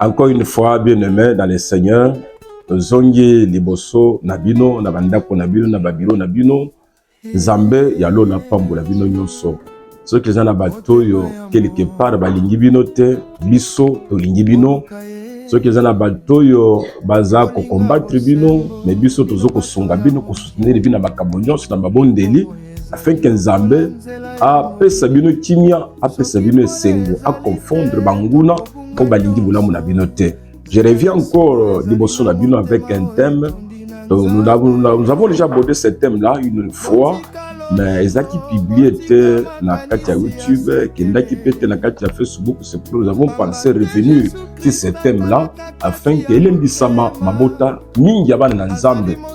Encore une fois, bien-aimé dans le Seigneur, zongi liboso na bino na bandako na bino na babiro na bino nzambe ya lola apambola bino nyonso soki eza na bato oyo quelque part balingi bino te biso tolingi bino soki eza na bato oyo baza kokombatre bino me biso toza kosunga bino kosoutenir bino na makambo nyonso na mabondeli afin que nzambe apesa bino kimia apesa bino esengo aconfondre banguna mpo balingi bolamu na bino te je reviens encore liboso na bino avec un thème Donc, nous, avons, nous avons déjà abordé ce thème-là une fois, mais ezalaki publié te na kati ya youtube ekendaki mpe te na kati ya facebook c'est pour nous avons pensé revenu sur ce thème là afin que elendisama mabota mingi ya bana na nzambe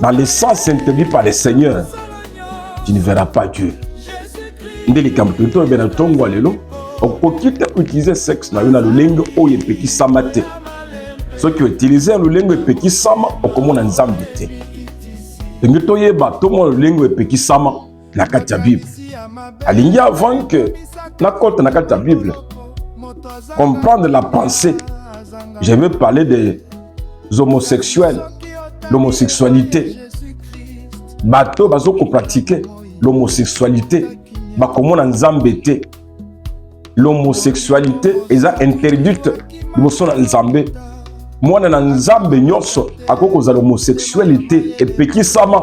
Dans le sens interdit par le Seigneur, tu ne verras pas Dieu. nde likambo toli tolobe na ntongo ya lelo okoki te koutilize sexe na yo na lolenge oyo epekisama te soki outilize ya lolenge epekisama okomona nzambe te ndenge toyeba tomona lolenge epekisama na kati ya bible alingi avant que nakota na kati ya bible comprendre la pensée je veux parler des homosexuels l'homosexualité bato bazo kopratike l'homosexualité bakomona nzambe te l'homosexualité eza interdite liboso na nzambe mwana na nzambe nyonso akoki kozala homosexualité epekisama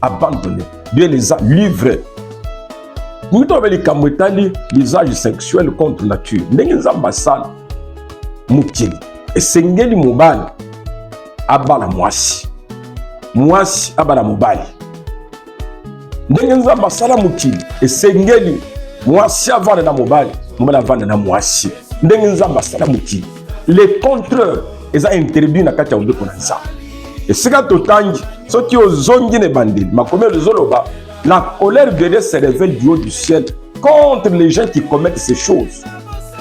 abandonne bien eza livre moto abe likambo etali lisage sexuel contre nature ndenge nzambe asala mokili esengeli mobali abala mwasi mwasi abala mobali ndenge nzambe asala mokili esengeli mwasi avanda na mobali mobali avanda na mwasi ndenge nzambe asala mokili le contraire eza interdit na kati ya mobeko na nzambe esika totangi soki ozongi na ebandeli makomi oyo ezoloba la colère de dieu se révèle du haut du ciel contre les gens qui commettent ces choses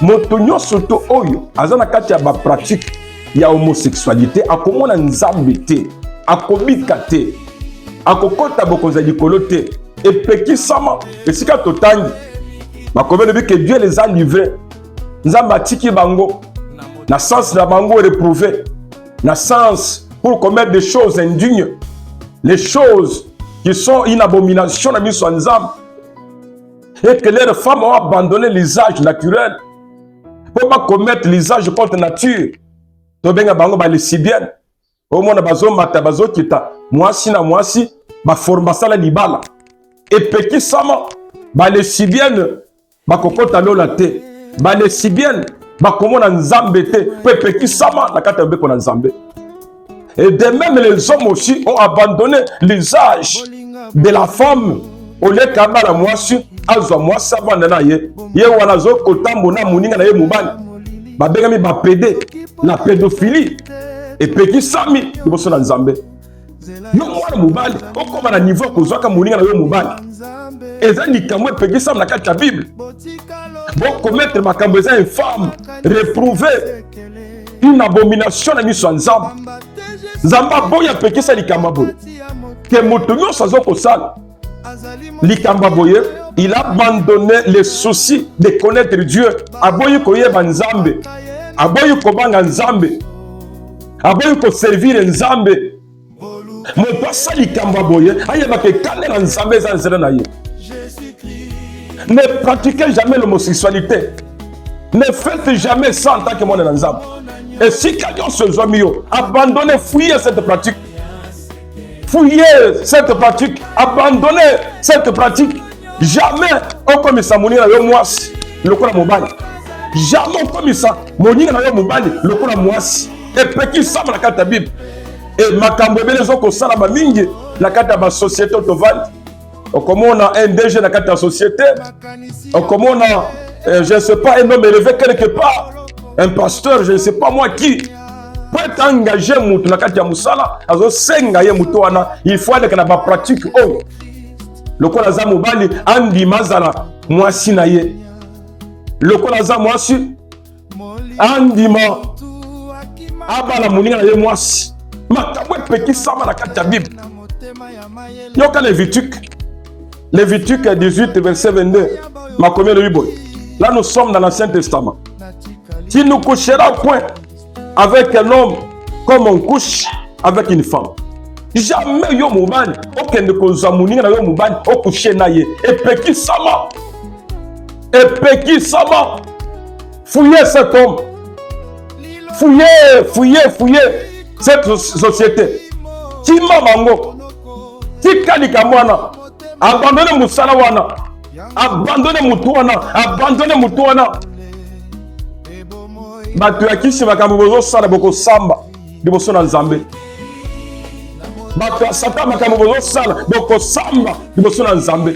moto nyonso to oyo aza na kati ya bapratique ya homosexualité akomona nzambe te akobika te akokota bokonzi ya likolo te epekisama esika totangi makomi elobi ke dieu les a livre nzambe atiki bango na sens na bango reprouve na sens pour commettre des choses indignes les choses qui sont une abomination na miso ya nzambe et que leurs femmes ont abandonné l'usage naturel mpo bacommettre l'usage contre nature tobenga bango balesibienne omona bazomata bazokita mwasi na mwasi baforme basala libala epekisama balesibienne bakokota lola te balesibienne bakomona nzambe te mpo epekisama na kati ya mobeko na nzambe et de même les hommes aussi ont abandonné l'usage de la femme oleka abala mwasi azwa mwasi abanda na ye ye wana azokotambo na moninga na ye mobali babengami bapede na pedophilie epekisami liboso na nzambe yo mwana mobali okoma na niveau ya kozwaka moninga na yo mobali eza likambo epekisami na kati ya bible bokometre makambo eza infame reprouve une abomination na miso ya nzambe nzambe aboyi apekisa likambo ya boye ke moto nyonso azokosala likambo boye il a abandonne le souci de connaître dieu aboyi koyeba nzambe aboyi kobanga nzambe aboyi koservire nzambe moto asala likambo ya boye ayebaka ekanda na nzambe eza nzela na ye ne pratiquez jamais l'homosexualité ne faites jamais ça en tant que mwana na nzambe esika nyonso ezwami yo abandonne fuye cette pratique fouiller cette pratique abandonner cette pratique jamais okomisa moninga na yo mwasi lokola mobali jamais okomisa moninga na yo mobali lokola mwasi epekisama na kati ya bible e makambo ebele ezokosalama mingi na kati ya basosiete tovandi okomona un DG na kati ya société okomona euh, je ne sais pas un homme élevé quelque part un pasteur je ne sais pas moi qui po ete engage motu na kati ya mosala azosenga ye moto wana il faut aleka na bapratique oyo lokola aza mobali andima azala mwasi na ye lokola aza mwasi andima abala moninga na ye mwasi makambo epekisama na kati ya bible yoka levitike levitike 18 verset 22 makomi elobi boye là nous sommes dans l'ancien testament tu ne coucheras point avec un homme comme on couche avec une femme jamais yo mobali okende kozwa moninga na yo mobali okushe na ye epekisama epekisama fouye cet homme fouye fouye fouye cette société kima bango tika likambo wana abandone mosala wana abandone motu wana abandone motu wana bato ya kisi makambo bozosala bokosamba liboso na nzambe bato ya satan makambo bozosala bokosamba liboso na nzambe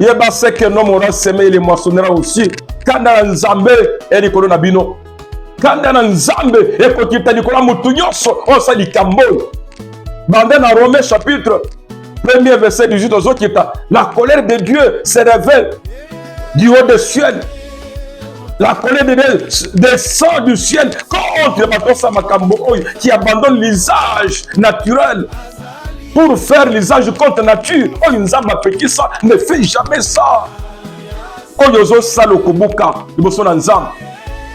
yeba se que nomo na seme ile mwasonera aussi kanda na nzambe ya likolo na bino kanda na nzambe ekokita likolo ya motu nyonso oyo asala likambo oyo banda na romain chapitre premier verset 18 ozokita la colère de dieu se révèle du haut de ciel la colère de dieu descend du ciel contre bato osala makambo oyo qui abandonne l'usage naturel pour faire l'usage contre nature oyo nzambe apekisa ne fait jamais ça oyo ozosala okobuka liboso na nzambe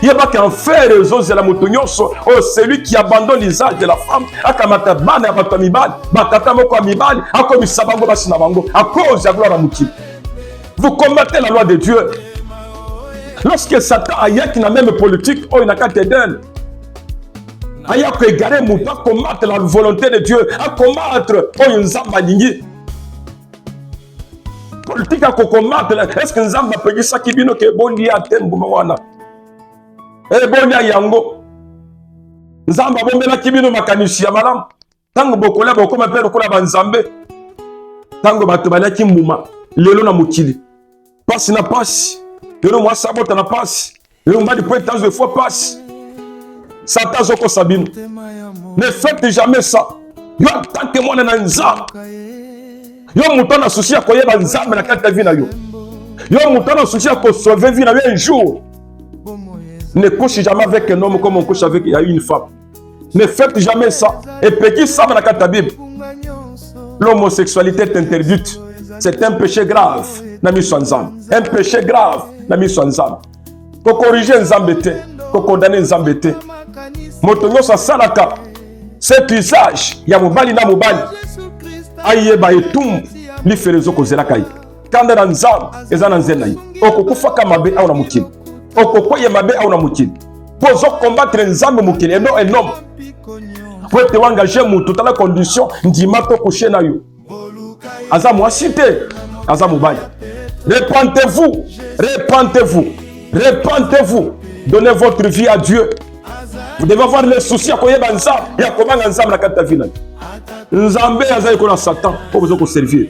yebaki enfer ezozela moto nyonso oyo oh, celui qui abandonne l'usage de la femme akamata bana ya bato ya mibali batata moko ya mibali akomisa bango basi na bango a cause ya gloire ya mokili vous combattez la loi de dieu lorsque satan ayaki na meme politique oyo na kati edene aya koegare motu akombatre la volonté de dieu akombatre oyo nzambe alingi politike ya kokombatre eske nzambe apekisaki bino ke bolia te mbuma wana e bolia yango nzambe abombelaki bino makanisi ya malamu ntango bokolia bokoma mpe lokola banzambe ntango bato baliaki mbuma lelo na mokili mpasi na mpasi lelo mwasi abota na mpasi lelo mobali mpo ete azwa efo mpasi satan azokosa bino ne fete jamais ça yo atanke mwana na nzambe yo moto na susi ya koyeba nzambe na kati ya vi na yo yo moto na susi ya kosauve vi na yo un jour ne couche jamais avec un homme comme on couche avec ya une femme Ne faites jamais ça. Et petit ça la carte Bible. L'homosexualité est interdite. C'est un péché grave. Nami Swanzam. Un péché grave. Nami Swanzam. Ko corriger Nzambe te. Ko condamner Nzambe te. Moto nyoso salaka. Cet usage ya mobali na mobali. Ayeba etumbu lifelo ezokozela kai. kanda na nzambe eza na nzela ye okokufaka mabe awa na mokili okokweya mabe awa na mokili mpo ozokombatre nzambe mokili eno enome mpo ete oengage motu tala condition ndima to kushe na yo aza mwasi te aza mobali repentez-vous repentez-vous repentez-vous donnez votre vie à dieu vous devez avoir le souci ya koyeba nzambe ya kobanga nzambe na kati ya vi na yo nzambe azali kona satan mpo boza koservire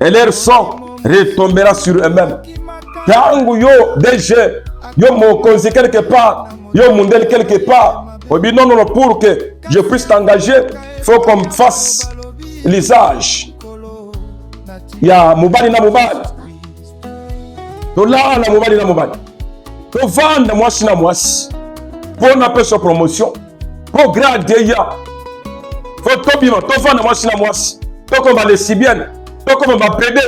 et leur son retombera sur eux-mêmes ntango yo dg yo mokonzi quelque part yo mundeli quelque part obi non non pour que je puisse t'engager faut qu'on fasse l'usage ya mobali na mobali tolala mobali na mobali tovanda mwasi na mwasi mpo napesa promotion progrès adeya fo tobima tofanda mwasi na mwasi tokoma lesibienne tokoma bapede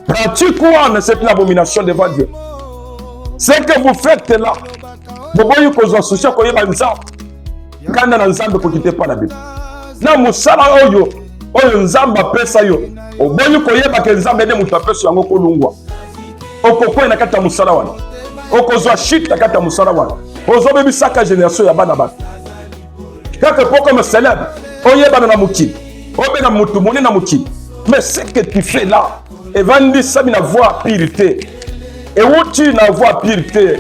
pratique wana c'est une abomination devant dieu ce que vous faites là boboyi kozwa souci ya koyeba nzambe nkanda na nzambe ekoki te epai na bino na mosala oyo oyo nzambe apesa yo oboyi koyeba ke nzambe nde moto apesa yango kolungwa okokwei na kati ya mosala wana okozwa chute na kati ya mosala wana ozobebisaka generation ya bana bato kaka po comme célèbre oyebana na mokili obena moto monene na mokili mais ce que tu fais là evandisami na voie pire te ewuti na voie pire te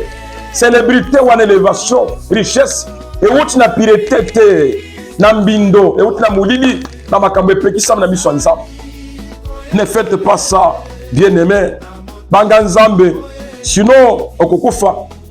celebrité wana elevation richesse ewuti na pirete te na mbindo ewuti na molili na makambo epekisami na miso ya nzambe ne fete pas ça bien aimé banga nzambe sinon okokufa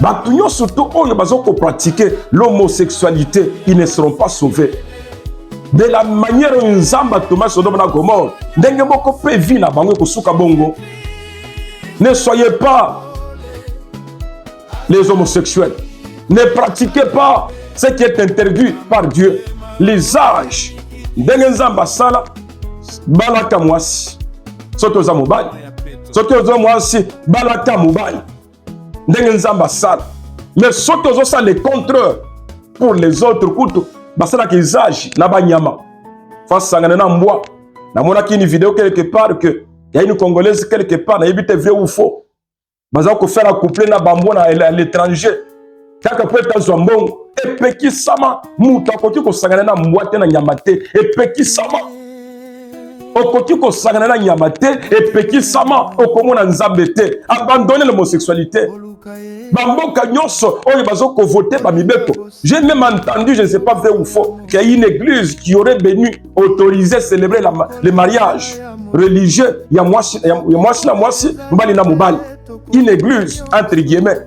bato nyonso to oyo bazokopratike l'homosexualité ils ne seront pas sauvés de la manière oyo nzambe atoma sodome na gomore ndenge moko mpe vi na bango ekosuka bongo ne soyez pas les homosexuels ne pratiquez pas ce qui est interdit par dieu les âges ndenge nzambe asala balata mwasi soki oza mobali soki oza mwasi balata mobali ndenge nzambe asala mais soki ozosala le contraire pour les autres kutu basalaka usage na banyama fasangana na mbwa namonaki une video quelque part que ya une congolaise quelque part nayebi te vrai ou faux baza kofela couple na bambwa na l'étranger kaka mpo ete azwa mbongo epekisama moto akoki kosangana na mbwa te na nyama te epekisama okoki kosangana na nyama te epekisama okomona nzambe te abandone l'homosexualité bamboka nyonso oyo bazokovote bamibeko j'ai même entendu je ne sais pas vrai ou faux qu'il y a une église qui aurait béni autorisé célébrer la, le mariage religieux ya mwasi na mwasi mobali na mobali une église entre guillemets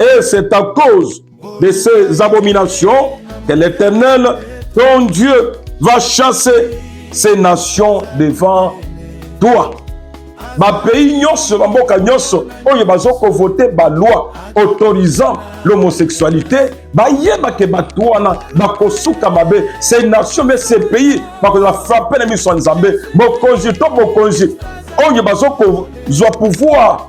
Et c'est à cause de ces abominations que l'Éternel, ton Dieu, va chasser ces nations devant toi. bapays nyonso bamboka nyonso oyo bazokovote baloi autorisant l'homosexualité bayeba ke bato wana bakosuka mabe se nation me se pays bakozala frappe na miso ya nzambe mokonzi to mokonzi oyo bazokozwa pouvoir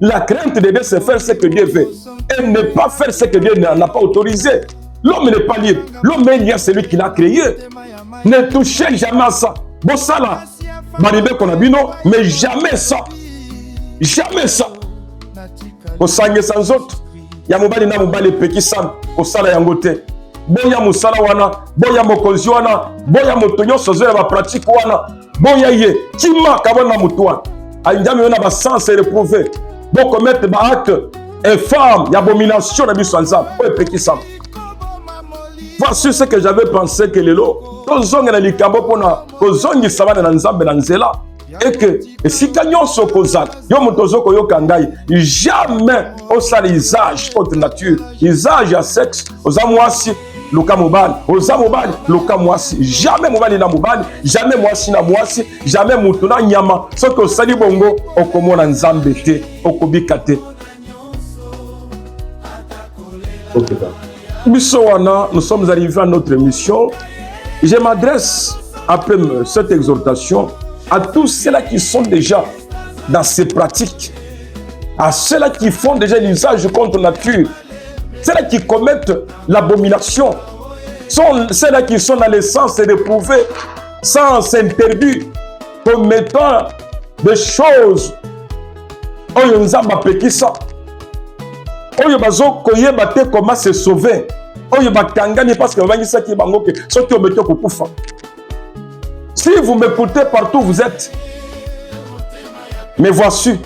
La crainte de Dieu, c'est faire ce que Dieu veut et ne pas faire ce que Dieu n'a pas autorisé. L'homme n'est pas libre. L'homme est lié à celui qui l'a créé. Ne touchez jamais à ça. Bon, ça là, qu'on a bino, mais jamais ça. Jamais ça. Au sang et sans autre, ya mobali na mobali epekisami kosala yango te boya mosala wana boya mokonzi wana boya moto nyonso azoya bapratike wana boya ye kima kabwa na moto wana anjami yo na basense reprouve bokomete baacte infâme ya abomination na biso ya nzambe oyo epekisama voici ce que j'avais pensé que lelo tozongela likambo mpo na kozongisa bana na nzambe na nzela eke esika nyonso okozala yo moto ozo koyoka ngai jamais osala usage contre nature usage ya sexe oza mwasi luka mobali oza mobali luka mwasi jamais mobali na mobali jamais mwasi na mwasi jamais moto na nyama soki osali bongo okomona nzambe te okobika te okay, biso wana nous sommes arrivés à notre mission je m'adresse après cette exhortation à tous ceux-là qui sont déjà dans ses pratiques, à ceux-là qui font déjà l'usage contre nature, ceux-là qui commettent l'abomination, sont ceux-là qui sont dans le sens d'éprouver sans interdit, commettant des choses oyo nzambe apekisa oyo bazokoyeba te koma se sauver oyo bakangani parce que babangisaki bango ke soki omeki okokufa Si vous m'écoutez partout vous êtes, me voici.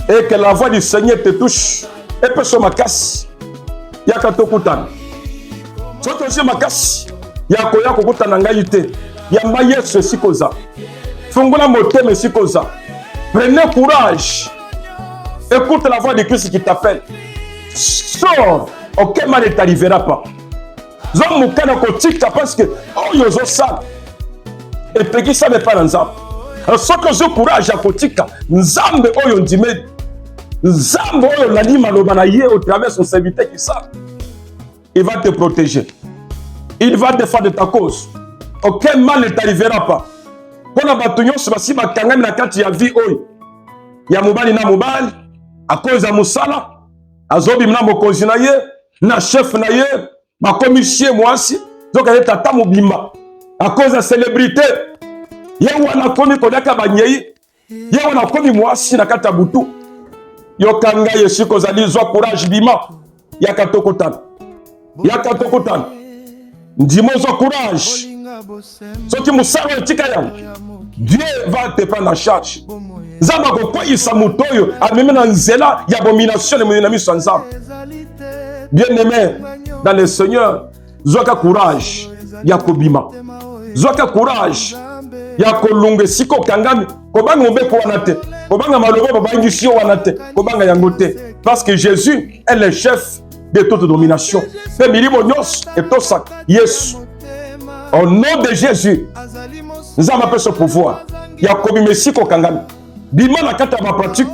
Et que la voix du Seigneur te touche. Et peut sur ma casse. Yaka tokutana. Soki osi makasi ya koya kokutana ngai te yamba yesu esika oza fungola motema esika oza prenez courage écoute la voix de christ qui t'appelle sors aucun mal ne t'arrivera pas zwa mokano kotika parce que oyo ozosala epekisami epai na nzambe soki ozwi courage ya kotika nzambe oyo ondimeli nzambe oyo olandi maloba na ye au travers son serviteur kisaka il va te protéger il va défendre ta cause aucun mal ne t'arrivera pas mpo na bato nyonso basi bakangami na kati ya vie oyo ya mobali na mobali akoza mosala azobima na mokonzi na ye na chef na ye bakomi sie mwasi zoka ye tata mobimba akoza ya celebrité ye wana akomi koliaka banyei ye wana akomi mwasi na kati ya butu yoka ngai esika ozali zwa courage bima yaka tokutana yaka tokutana ndima ozwa courage soki mosala etika yango dieu va te prendre en charge nzambe akokweyisa moto oyo amemi na nzela ya bomination lemoni na miso ya nzambe bien aimé dans le seigneur zwaka courage ya kobima zwaka courage ya kolunga esika okangami kobanga mobeko wana te kobanga maloba babangisi yo wana te kobanga yango te parce que jésus est le chef de toute domination mpe milimo nyonso etosaka yesu au nom de jésus nzambe apesa pouvoir ya kobima esi kokangami bima na kati ya bapratique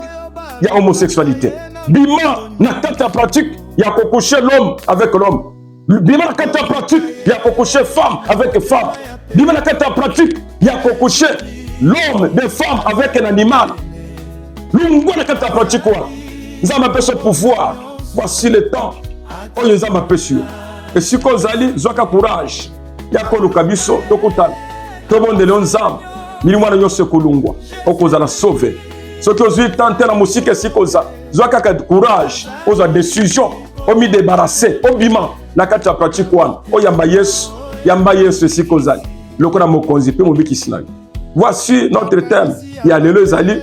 ya homosexualité bima na kati ya pratique ya kokushe l'homme avec l'homme bima na kati ya pratique ya kokushe femme avec femme bima na kati ya pratique ya kokushe l'homme de femme avec un animal longwa na kati ya pratique wana nzambe apesa pouvoir voici le temps oyo nzambe apesi yo esika ozali zwaka courage ya koluka biso tokutana tobondeli yo nzambe milimo wana nyonso ekolungwa okozala sauve soki ozwi temps te na mosika esika oza zwa kaka courage ozwa décision omidebarase obima na kati ya pratike wana oyamba yesu yamba yesu esika ozali lokola mokonzi mpe mobikisi na yo Voici notre thème ya lelo ezali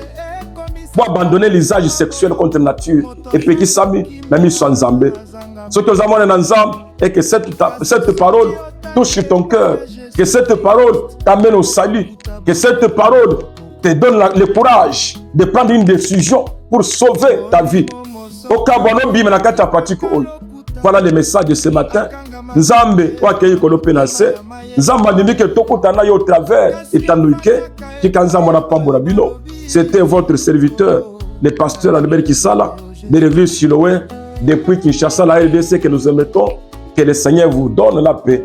bo abandonne l'usage sexuel contre nature epekisami na miso ya Nzambe. Soki oza mwana na Nzambe et que cette, cette parole touche ton cœur, que cette parole t'amène au salut, que cette parole te donne la, le courage de prendre une décision pour sauver ta vie. okabwa nobima na kati ya patiko oyo Voilà le message de ce matin. Nzambe wakeyi kolo pe na se. Nzambe alingi ke tokuta na yo travers etanduike tika Nzambe na pambo na bino. C'était votre serviteur, le pasteur Albert Kisala, de l'église Siloé, depuis Kinshasa, la RDC que nous émettons. Que le Seigneur vous donne la paix.